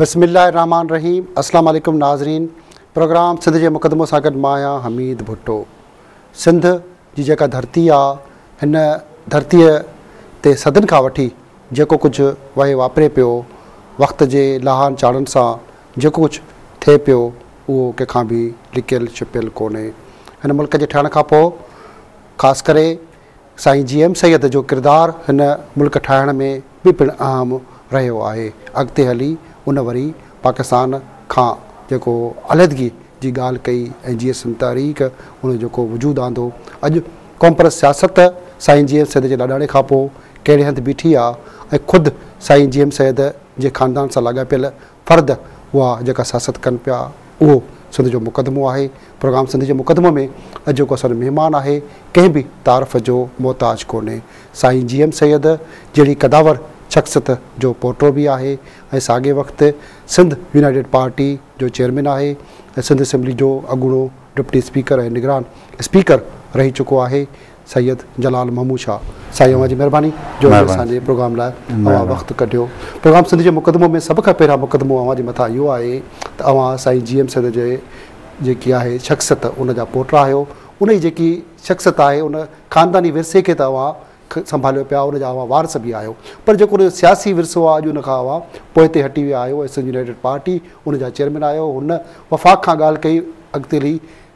بسم الله الرحمن الرحيم اسلام عليڪم ناظرين پروگرام سنڌ جي مقدمو سان گڏ مان آهيان حميد ڀٽو سنڌ جي جيڪا ڌرتي آ هن ڌرتي تي صدن کان وٺي جيڪو ڪجهه وهي واپري پيو وقت جي لاهن چاڙهن سان جيڪو ڪجهه ٿئي پيو، اهو ڪنهن کان به لڪيل ڇپيل ڪونهي. هن ملڪ جي ٺهڻ کان پوء خاص ڪري سائين جي ايم سيد جو ڪردار هن ملڪ ٺاهڻ ۾ به پڻ اهم رهيو آهي. اڳتي هلي ان وري پاڪستان کان جيڪو علحدگي جي ڳالهه ڪئي ۽ جي سنڌ تحريڪ ان جو جيڪو وجود آندو. اڄ قومپرست سياست سائين جي ايم سيد جي لاڏاڻي کان پوء ڪهڙي هنڌ بيٺي آهي ۽ خود سائين جي ايم سيد جي خاندان سان لاڳاپيل فرد هئا جيڪا سياست ڪن پيا اهو سنڌ جو مقدمو آهي پروگرام سنڌ جي مقدمو ۾ اڄوڪو اسان جو مهمان آهي ڪنهن به تعارف جو محتاج ڪونهي سائين جي ايم سيد جهڙي قداور شخصيت جو پوٽو به آهي ۽ ساڳي وقت سنڌ يونائيٽيڊ پارٽي جو چيئرمين آهي ۽ سنڌ اسيمبلي جو اڳوڻو ڊپٽي اسپيڪر ۽ نگران اسپيڪر رهي چڪو آهي سيد جلال محمود شاهه سائين اوهان جي مهرباني جو اڄ اسان جي پروگرام لاء اوهان وقت ڪڍيو پروگرام سنڌ جي مقدمو ۾ سڀ کان پهريان مقدمو اوهان جي مٿان اهو آهي ته اوهان سائين جي ايم سيد جي جيڪي آهي شخصيت ان جا پوٽا آهيو ان جي جيڪي شخصيت آهي ان خانداني ورثي کي ته اوهان سنڀاليو پيا ان جا اوهان وارث به آهيو پر جيڪو ان جو سياسي ورثو آهي اڄ ان کان اوهان پوئتي هٽي ويا آهيو ۽ سنڌ يونائيٽيڊ پارٽي ان جا چيئرمين آهيو هن وفاق کان ڳالهه ڪئي اڳتي هلي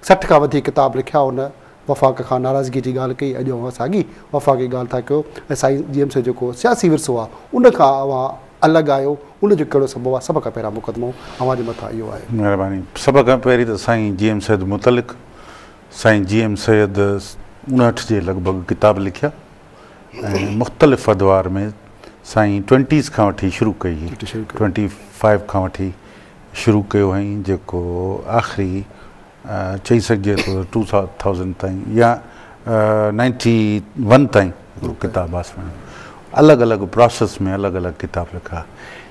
سٺ کان وڌيڪ ڪتاب لکيا ان وفاق کان ناراضگيء جي ڳالهه ڪئي، اڄ اوهان ساڳي وفاق جي ڳالهه ٿا ڪيو ۽ سائين جي ايم سي جيڪو سياسي ورثو آهي، ان کان اوهان الڳ آهيو، ان جو ڪهڙو سبب آهي، سڀ کان پهريان مقدمو اوهان جي مٿان اهو آهي. مهرباني. سڀ کان پهرين ته سائين جي ايم سيد متعلق سائين جي ايم سيد اڻهٺ جي لڳ ڀڳ ڪتاب لکيا ۽ مختلف ادوار ۾ سائين ٽوئنٽيز کان وٺي شروع ڪئي هئي، ٽوئنٽي فائيو کان وٺي شروع ڪيو هئائين جيڪو آخري چئي سگهجي ٿو ته ٽو ٿائوزنڊ تائين يا نائنٽي ون تائين اهو ڪتاب آسمان الڳ الڳ پراسيس ۾ الڳ الڳ ڪتاب لکا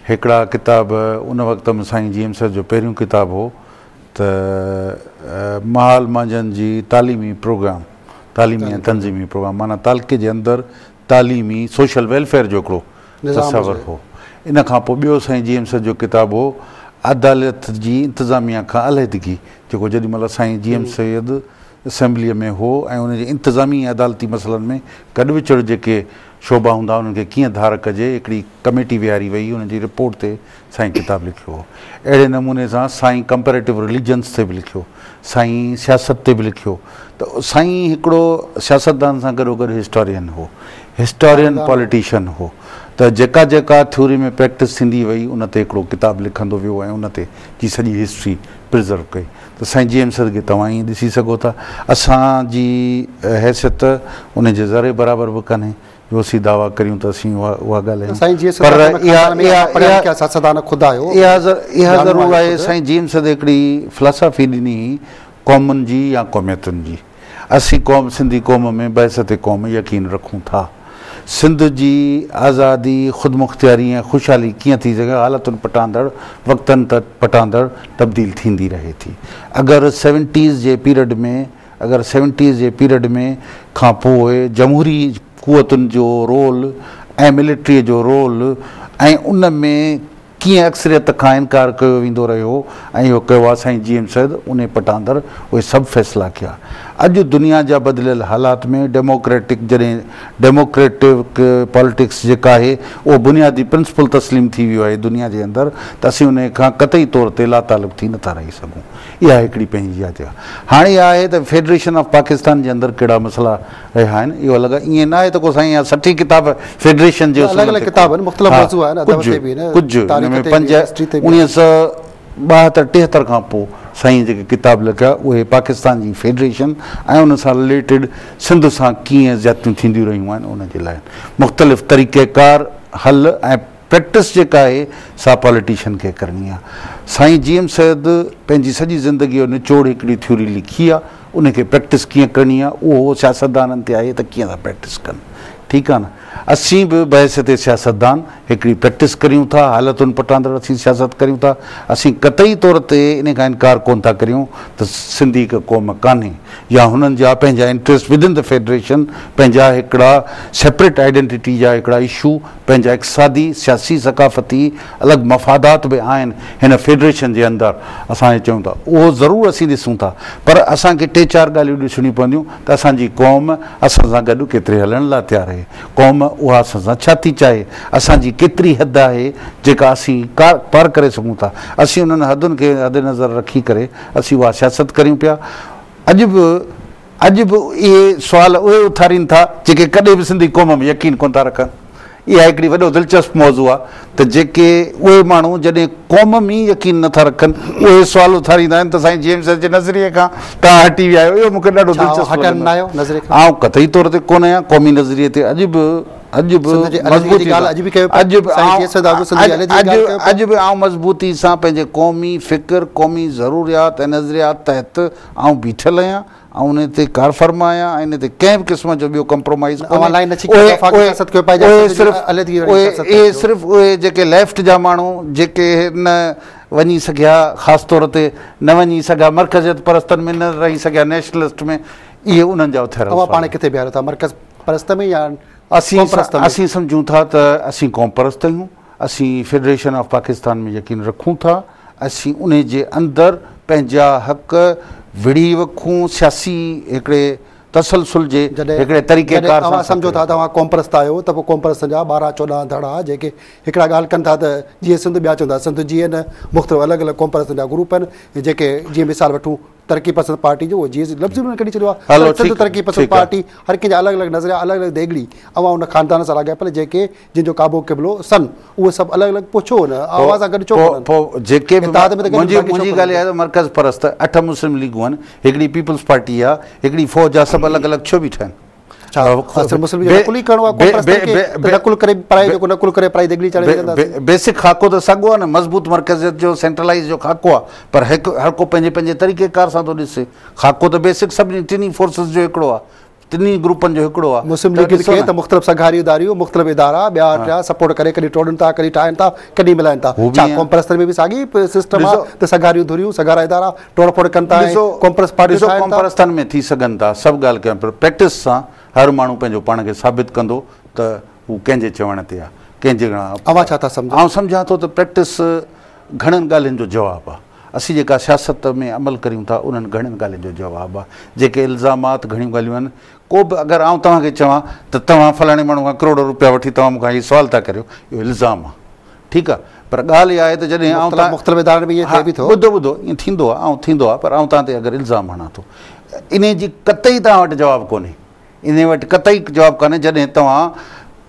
هڪڙا ڪتاب ان وقت ۾ سائين جي ايم سر جو پهريون ڪتاب هو ته مال مانجهن جي تعليمي پروگرام تعليمي ۽ تنظيمي پروگرام معنيٰ تعلقي جي اندر تعليمي، سوشل ويلفيئر جو هڪڙو تصور هو. ان کان پوء ٻيو سائين جيمس جو ڪتاب هو عدالت جي انتظاميا کان علحدگي جيڪو جيڏي مهل سائين جيمس سيد اسيمبليء ۾ هو ۽ ان جي انتظامي ۽ عدالتي مسئلن ۾ گڏ وچڙ جيڪي شعبا هوندا انهن کي ڪيئن ڌار ڪجي هڪڙي ڪميٽي ويهاري وئي انهن جي رپورٽ تي سائين ڪتاب لکيو هو. اهڙي نموني سان سائين ڪمپيريٽو رليجنس تي به لکيو. سائين سياست تي به لکيو ته سائين هڪڙو سياستدان سان گڏوگڏ هسٽورين هو. هسٽورين پوليٽيشن هو ته جيڪا جيڪا ٿيوري ۾ پريڪٽس ٿيندي وئي ان تي هڪڙو ڪتاب لکندو ويو ۽ ان تي جي سڄي هسٽري پريزرو ڪئي ته سائين جي ايم سرگي توهان ائين ڏسي سگهو ٿا اسان جي حيثيت ان جي ذري برابر به ڪانهي. جو اسين دعويٰ ڪريون ته اسين اها اها ڳالهايون. سائين جيئن سڌا پر جنهن خاندان ۾ اها اها پڙهيا لکيا سياستدان خود آهيو. اها اها ڄاڻو ضرور آهيو آهي خود. سائين جيئن سڌ هڪڙي فلاسافي ڏني هئي قومن جي يا قوميتن جي. اسين قوم سنڌي قوم ۾ بعثت قوم يقين رکون ٿا. سنڌ جي آزادي، خودمختياري ۽ خوشحالي ڪيئن ٿي سگهي حالتن پٽاندڙ وقتن پٽاندڙ تبديل ٿيندي رهي ٿي. اگر سيونٽيز جي پيرڊ ۾ اگر سيونٽيز جي پيريڊ ۾ کان پوء جمهوري قوتن جو رول ۽ ملٽريء جو رول ۽ ان ۾ ڪيئن اڪثريت کان انڪار ڪيو ويندو رهيو ۽ اهو ڪيو آ سائين جي ايم سيد انهي پٽ آندر اهي سڀ فيصلا ڪيا اڄ دنيا جا بدليل حالات ۾ ڊيموڪريٽڪ جڏهن ڊيموڪريٽڪ پاليٽڪس جيڪا آهي اهو بنيادي پرنسپل تسليم ٿي ويو آهي دنيا جي اندر ته اسين انهي کان قطعي طور تي لاتعلق ٿي نٿا رهي سگهون اها هڪڙي پنهنجي آ جا. هاڻي اها آهي ته فيڊريشن آف پاڪستان جي اندر ڪهڙا مسئلا رهيا آهن اهو الڳ آهي. ائين نه آهي ته ڪو سائين اها سٺي ڪتاب فيڊريشن جي نه الڳ اصولن الڳ تي ڪتاب آهن، مختلف ها موضوع آهن، ادب ڪجهه تي به آهن، ڪجهه ان تاريخ ۾ تي به پنج آهن، هسٽري تي به آهن. اڻيهه سؤ ٻاهتر ٽيهتر کان پوء سائين جيڪي ڪتاب لکيا اهي پاڪستان جي فيڊريشن ۽ ان سان رليٽيڊ سنڌ سان ڪيئن زيادتيون ٿينديون رهيون آهن ان جي لاء آهن. مختلف طريقيڪار، حل ۽ پريڪٽس جيڪا آهي سا پاليٽيشن کي ڪرڻي آهي سائين جي ايم سيد پنهنجي سڄي زندگي جو نچوڙ هڪڙي ٿيوري لکي آهي ان کي پريڪٽس ڪيئن ڪرڻي آهي اهو سياستدانن تي آهي ته ڪيئن ٿا پريڪٽس ڪن ٺيڪ آهي نه اسين به بحيثيت سياستدان هڪڙي پريڪٽس ڪريون ٿا حالتن پٽاندڙ اسين سياست ڪريون ٿا اسين قطعي طور تي ان کان انڪار ڪون ٿا ڪريون ته سنڌي هڪ قوم ڪانهي يا هنن جا پنهنجا انٽريسٽ ودن دي فيڊريشن پنهنجا هڪڙا سيپريٽ آئيڊينٽيٽي جا هڪڙا اشو پنهنجا اقتصادي، سياسي، ثقافتي الڳ مفادات به آهن هن فيڊريشن جي اندر اسان جي چون ٿا اهو ضرور اسين ڏسون ٿا پر اسان کي ٽي چار ڳالهيون ڏسڻيون پونديون ته اسان جي قوم اسان سان گڏ ڪيتري هلڻ لا تيار آهي قوم اها اسان سان ڇا ٿي چاهي اسان جي ڪيتري حد آهي جيڪا اسين پار ڪري سگهون ٿا اسين انهن حدن کي حد نظر رکي ڪري اسين اها سياست ڪريون پيا اڄ به اڄ به اهي سوال اهي اٿارين ٿا جيڪي ڪڏهن به سنڌي قوم ۾ يقين ڪونه ٿا رکن. اها هڪڙي وڏو دلچسپ موضوع آهي ته جيڪي اهي ماڻهو جڏهن قوم ۾ ئي يقين نه ٿا رکن اهي سوال اٿاريندا آهن ته سائين جيمس جي نظريي کان توهان هٽي ويا آهيو اهو مون کي ڏاڍو ڇا اوهان دلچسپ هٽن نه آهيو لڳندو نظريي کان؟ آئون قطعي طور تي ڪونه آهيان قومي نظريي تي اڄ به اڄ به سنڌ جي علحدگيء جي مضبوطي ڳالهه سان اڄ به ڪيو پيا. اڄ به سائين جيئي سيد آگو سنڌ جي آئون علحدگيء جي اڄ ڳالهه ڪيو پيا. اڄ به آئون مضبوطي سان پنهنجي قومي فڪر قومي ضروريات ۽ نظريات تحت آئون بيٺل آهيان، آئون ان تي ڪارفرما آهيان ۽ ان تي ڪنهن به قسم جو ٻيو ڪمپرومائيز ڪونهي. اهي صرف اهي جيڪي ليفٽ جا ماڻهو جيڪي نه وڃي سگهيا خاص طور تي نه وڃي سگهيا مرڪزيت پرستن ۾ نه رهي سگهيا نيشنلسٽ ۾ اهي انهن جا اٿيا رهيا. اوهان پاڻ کي ڪٿي بيهاريو ٿا مرڪز پرست ۾ يا قوم پرست ۾؟ اسين سمجهون ٿا ته اسين قوم پرست آهيون. اسين فيڊريشن آف پاڪستان ۾ يقين رکون ٿا، اسين انهي جي اندر پنهنجا حق وڙهي وکون، سياسي هڪڙي تسلسل جي هڪڙي طريقي ڪار سان. جڏهن اوهان سمجهو ٿا ته اوهان قومپرست آهيو ته پوء قومپرستن جا ٻارهن چوڏهن ڌڙا جيڪي هڪڙا ڳالهه ڪن ٿا ته جيئي سنڌ ٻيا چون ٿا سنڌ جيئي نه، مختلف الڳ الڳ قومپرستن جا گروپ آهن جيڪي جيئي مثال وٺون ترقي پسند پارٽي جو اهو جيئي لفظ ئي انهن ڪڍي ڇڏيو آهي پر سنڌ ترقي پسند پارٽي هر ڪنهن جا الڳ الڳ نظريا الڳ الڳ ديڳڙي اوهان ان خاندان سان لاڳاپيل جيڪي جن جو ڪعبو قبلو سن اهي سڀ الڳ الڳ پوء ڇو نه اوهان سان گڏ ڇو ڪونهن پوء جيڪي به اتحاد ۾ ته گڏجي باقي ڇو منهنجي ڳالهه اها آهي ته مرڪز پرست اٺ مسلم ليگون آهن هڪڙي پيپلز پارٽي آهي هڪڙي فوج آهي سڀ الڳ الڳ ڇو بيٺا آهن ڇا اصل مسلم کي نقل ئي ڪرڻو آهي قوم پرستن کي ته نقل ڪري پرائي جيڪو نقل ڪري پرائي ديڳڙي چاڙهي وجهنداسين بيسڪ خاڪو ته ساڳو آهي نه مضبوط مرڪزيت جو سينٽرلائيز جو خاڪو آهي پر هڪ هر ڪو پنهنجي پنهنجي طريقي ڪار سان ٿو ڏسي خاڪو ته بيسڪ سڀني ٽنهي فورسز جو هڪڙو آهي ٽنهي گروپن جو هڪڙو آ. مسلم ليگ ن کي ته مختلف سگهاري اداريون، مختلف ادارا ٻيا ٽيا سپورٽ ڪري ڪڏهن ٽوڙين ٿا ڪڏهن ٺاهين ٿا ڪڏهن ملائين ٿا. ڇا قوم پرستن ۾ به ساڳي سسٽم آ ته سگهاريون ڌريون، سگهارا ادارا ٽوڙ ڦوڙ ڪن ٿا ۽ قوم پرست پارٽيون ٺاهين ٿا. ڏسو قوم پرستن ۾ ٿي سگهن ٿا سڀ ڳالهه ڪيون پر پريڪٽس سان هر ماڻهو پنهنجو پاڻ کي ثابت ڪندو ته هو ڪنهن جي چوڻ تي آ ڪنهن جي. اوهان ڇا ٿا سمجهو؟ آئون سمجهان ٿو ته پريڪٽس گهڻن ڳالهين جو جواب آ. اسين جيڪا سياست ۾ عمل ڪريون ٿا انهن گهڻين ڳالهين جو جواب آ جيڪي الزامات گهڻيون ڳالهيون آهن ڪو به اگر آئون توهان کي چوان ته توهان فلاڻي ماڻهو کان ڪروڙ روپيا وٺي توهان مون کان هي سوال ٿا ڪريو اهو الزام آ ٺيڪ آ پر ڳالهه اها آهي ته جڏهن آئون توهان مختلف ادارن ۾ ائين ٿئي ٿو ها ٻڌو ٻڌو ائين ٿيندو آ آئون ٿيندو آ پر آئون توهان تي اگر الزام هڻان ٿو انهي جي قطعي توهان وٽ جواب ڪونهي انهيء وٽ قطعي جواب ڪانهي، جڏهن توهان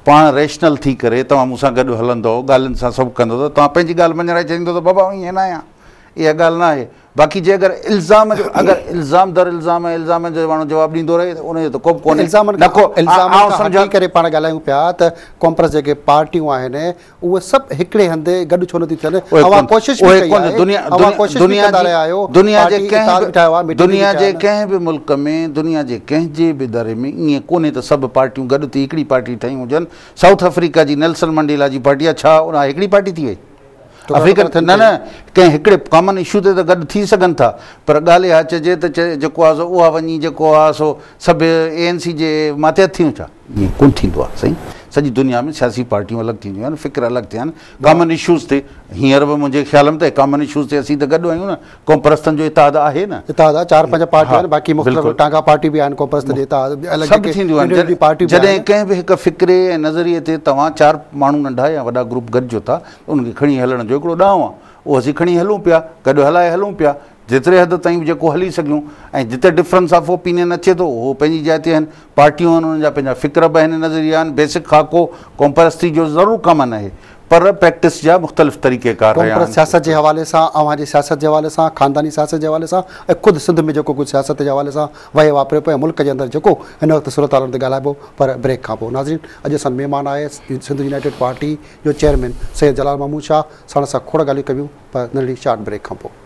پاڻ ريشنل ٿي ڪري توهان مون سان گڏ هلندؤ، ڳالهين سان سڀ ڪندؤ ته توهان پنهنجي ڳالهه مڃرائي ڇڏيندؤ ته بابا آئون ائين نه آهيان، اها ڳالهه نه آهي. باقي جي اگر الزام جو اگر الزام در الزام ۽ الزامن جو ماڻهو جواب ڏيندو رهي ته ان جو ته ڪوبه ڪونهي. الزامن کان هٽي ڪري پاڻ ڳالهايون پيا ته ڪانپرس جيڪي پارٽيون آهن اهي سڀ هڪڙي هنڌ گڏ ڇو نٿيون ٿين؟ اوهان ڪوشش به ڪئي آهي، اوهان ڪوشش به ڪندا رهيا آهيو، پارٽي اتحاد به ٺاهيو آهي، ميٽنگ به ڪئي آهي. دنيا جي ڪنهن به ملڪ ۾ دنيا جي ڪنهن جي به دڙي ۾ ائين ڪونهي ته سڀ پارٽيون گڏ ٿي هڪڙي پارٽي ٺهيون هجن، سائوٿ آفريڪا جي نيلسن منڊيلا جي پارٽي آهي ڇا اها هڪڙي پارٽي ٿي وئي؟ آفريڪن نه نه ڪنهن هڪڙي ڪامن اشو تي ته گڏ ٿي سگهن ٿا پر ڳالهه اها چئجي ته جيڪو آهي سو اها وڃي جيڪو آهي سو سڀ اي اين سي جي ماتحت ٿيون ڇا؟ ائين ڪونه ٿيندو آهي سائين سڄي دنيا ۾ سياسي پارٽيون الڳ ٿينديون آهن فڪر الڳ ٿيا آهن ڪامن اشوز تي هينئر به منهنجي خيال ۾ ته ڪامن اشوز تي اسين ته گڏ آهيون نه قوم پرستن جو اتحاد آهي نه اتحاد آهي چار پنج پارٽيون آهن باقي مختلف ٽانگا پارٽي به آهن قوم پرستن جي اتحاد به الڳ سڀ ٿينديون آهن جڏهن ڪنهن به هڪ فڪري ۽ نظريي تي توهان چار ماڻهو ننڍا يا وڏا گروپ گڏجو ٿا ته ان کي کڻي هلڻ جو هڪڙو ڏانء آهي اهو اسين کڻي هلون پيا گڏ هلائي هلون پيا جيتري حد تائين به جيڪو هلي سگهيون ۽ جتي ڊفرنس آف اوپينين اچي ٿو اهو پنهنجي جاء تي آهن، پارٽيون آهن انهن جا پنهنجا فڪر به آهن نظريا آهن، بيسڪ خاڪو قومپرستي جو ضرور ڪامن آهي پر پريڪٽس جا مختلف طريقه ڪار رهيا قومپرست آهن. سياست جي حوالي سان، اوهان جي سياست جي حوالي سان، خانداني سياست جي حوالي سان ۽ خود سنڌ ۾ جيڪو ڪجهه سياست جي حوالي سان وهي واپريو پيو ۽ ملڪ جي اندر جيڪو هن وقت صورتحالن تي ڳالهائبو پر بريڪ کان پوء ناظرين اڄ اسان سان مهمان آهي سنڌ يونائيٽيڊ پارٽي جو چيئرمين سيد جلال محمود شاهه ساڻس اسان کوڙ ڳالهيون ڪبيون پر ننڍڙي شارٽ بريڪ کان پوء.